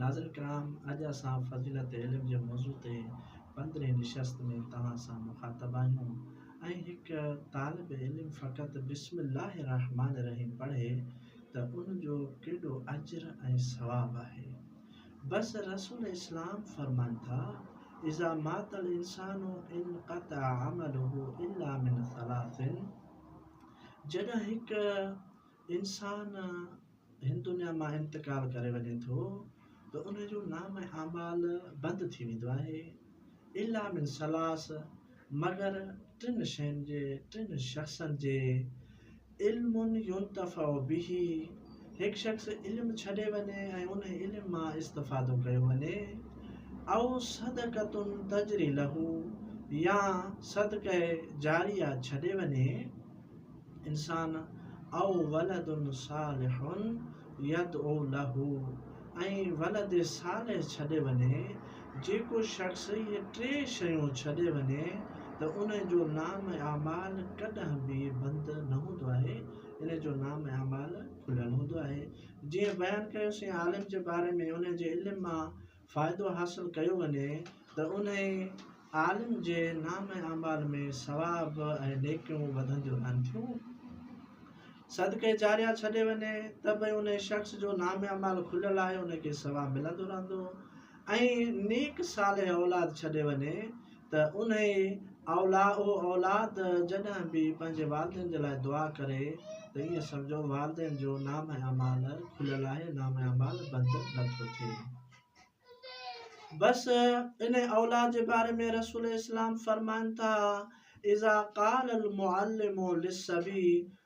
ناظرين ڪرام اڄ اسان فضيلت علم جي موضوع تي پندرهين نشست ۾ توهان سان مخاطب آهيون ۽ هڪ طالب علم فقط بسم الله الرحمٰن الرحيم پڙهي ته ان جو ڪيڏو اجر ۽ ثواب آهي بس رسول اسلام فرمائن ٿا اذا مات الانسان انقطع عمله الا من ثلاث جڏهن هڪ انسان هن دنيا مان انتقال ڪري وڃي ٿو ته ان جو نام اعمال بند ٿي ويندو آهي الا من ثلاث مگر ٽن شين جي ٽن شخصن جي علم ينتفع به هڪ شخص علم ڇڏي وڃي ۽ ان علم مان استفادو ڪيو وڃي او صدقتن تجري لهو يا صدقه جاريه ڇڏي وڃي انسان او ولد صالح يدعو له ۽ ولد صالح ڇڏي وڃي، جيڪو شخص اهي ٽي شيون ڇڏي وڃي ته ان جو نام اعمال ڪڏهن به بند نه هوندو آهي، ان جو نام اعمال کليل هوندو آهي، جيئن بيان ڪيوسين عالم جي باري ۾ ان جي علم مان فائدو حاصل ڪيو وڃي ته انهي عالم جي نام اعمال ۾ ثواب ۽ نيڪيون وڌنديون رهن ٿيون. صدقه جاريه ڇڏي وڃي ته به انهي شخص جو نام اعمال کليل آهي ان کي ثواب ملندو رهندو ۽ نيڪ صالح اولاد ڇڏي وڃي ته انهي اولاء و اولاد جڏهن به پنهنجي والدين جي لاء دعا ڪري ته ائين سمجهو والدين جو نامه اعمال کليل آهي نامه اعمال بند نه ٿو ٿئي. بس انهي اولاء جي باري ۾ رسول اسلام فرمائن ٿا، اذا قال المعلم للصبي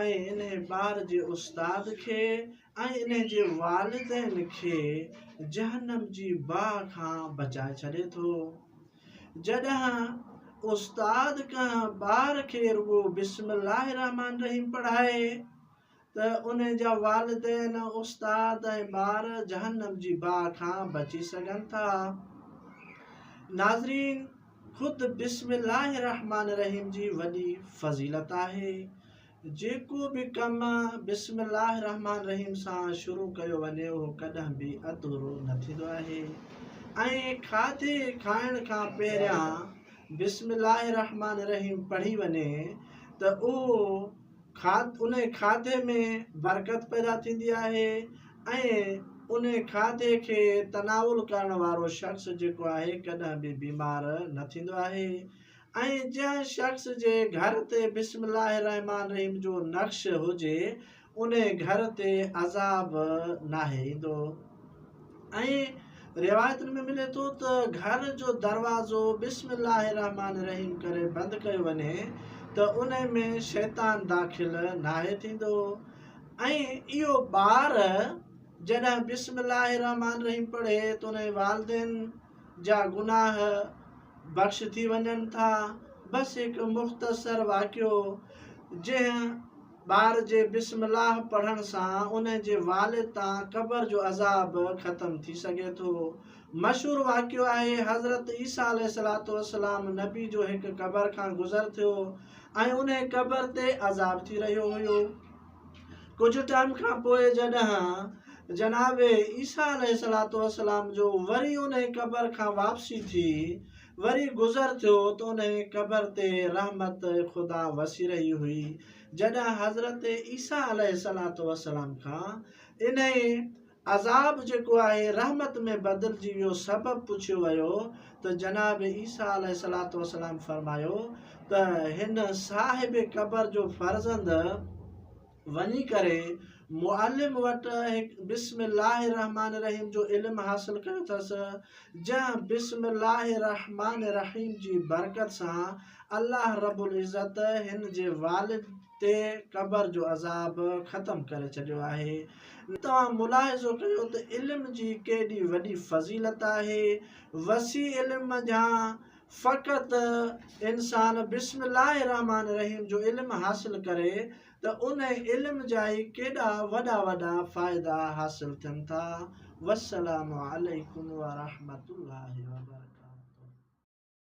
۽ انهي ٻار جي استاد کي ۽ انهي جي والدين کي جهنم جي باهه کان بچائي ڇڏي ٿو. جڏهن استاد ڪنهن ٻار کي رڳو بسم الله الرحمٰن الرحيم پڙهائي ته انهي جا والدين، استاد ۽ ٻار جهنم جي باهه کان بچي سگهن ٿا. ناظرين! خود بسم الله الرحمٰن الرحيم جي وڏي فضيلت آهي. جيڪو به ڪم بسم الله الرحمٰن الرحيم سان شروع ڪيو وڃي اهو ڪڏهن به اڌورو نه ٿيندو آهي ۽ کاڌي کائڻ کان پهريان بسم الله الرحمٰن الرحيم پڙهي وڃي ته اهو انهي کاڌي ۾ برڪت پيدا ٿيندي آهي ۽ انهي کاڌي کي تناول ڪرڻ وارو شخص جيڪو آهي ڪڏهن به بيمار نه ٿيندو آهي ۽ جنهن شخص جي گهر تي بسم الله الرحمان الرحيم جو نقش هجي انهي گهر تي عذاب ناهي ايندو. ۽ روايتن ۾ ملي ٿو ته گهر جو دروازو بسم الله الرحمٰن الرحيم ڪري بند ڪيو وڃي ته ان ۾ شيطان داخل ناهي ٿيندو ۽ اهو ٻار جڏهن بسم الله الرحمٰن الرحيم پڙهي ته ان جي والدين جا گناهه بخش ٿي وڃن ٿا بس هڪ مختصر واقعو جنهن ٻار جي بسم الله پڙهڻ سان ان جي والد تان قبر جو عذاب ختم ٿي سگهي ٿو. مشهور واقعو آهي حضرت عيسيٰ عليه الصلاة والسلام نبي جو هڪ قبر کان گذر ٿيو ۽ انهي قبر تي عذاب ٿي رهيو هيو. ڪجهه ٽائيم کان پوء جڏهن جناب عيسيٰ عليه الصلاة والسلام جو وري انهي قبر کان واپسي ٿي وري گذر ٿيو ته انهيء قبر تي رحمت خدا وسي رهي هئي، جڏهن حضرت عيسيٰ عليه الصلوة والسلام کان انهيء عذاب جيڪو آهي رحمت ۾ بدلجي ويو سبب پڇيو ويو ته جناب عيسيٰ عليه الصلوة والسلام فرمايو ته هن صاحب قبر جو فرزند وڃي ڪري معلم وٽ هڪ بسم الله الرحمٰن الرحيم جو علم حاصل ڪيو اٿس جنهن بسم الله الرحمٰن الرحيم جي برڪت سان الله رب العزت هن جي والد تي قبر جو عذاب ختم ڪري ڇڏيو آهي توهان ملاحظو ڪيو ته علم جي ڪيڏي وڏي فضيلت آهي وسيع علم منجهان فقط انسان بسم الله الرحمٰن الرحيم جو علم حاصل ڪري ته ان علم جا ئي ڪيڏا وڏا وڏا فائدا حاصل ٿين ٿا والسلام عليڪم ورحمة الله وبرڪاته.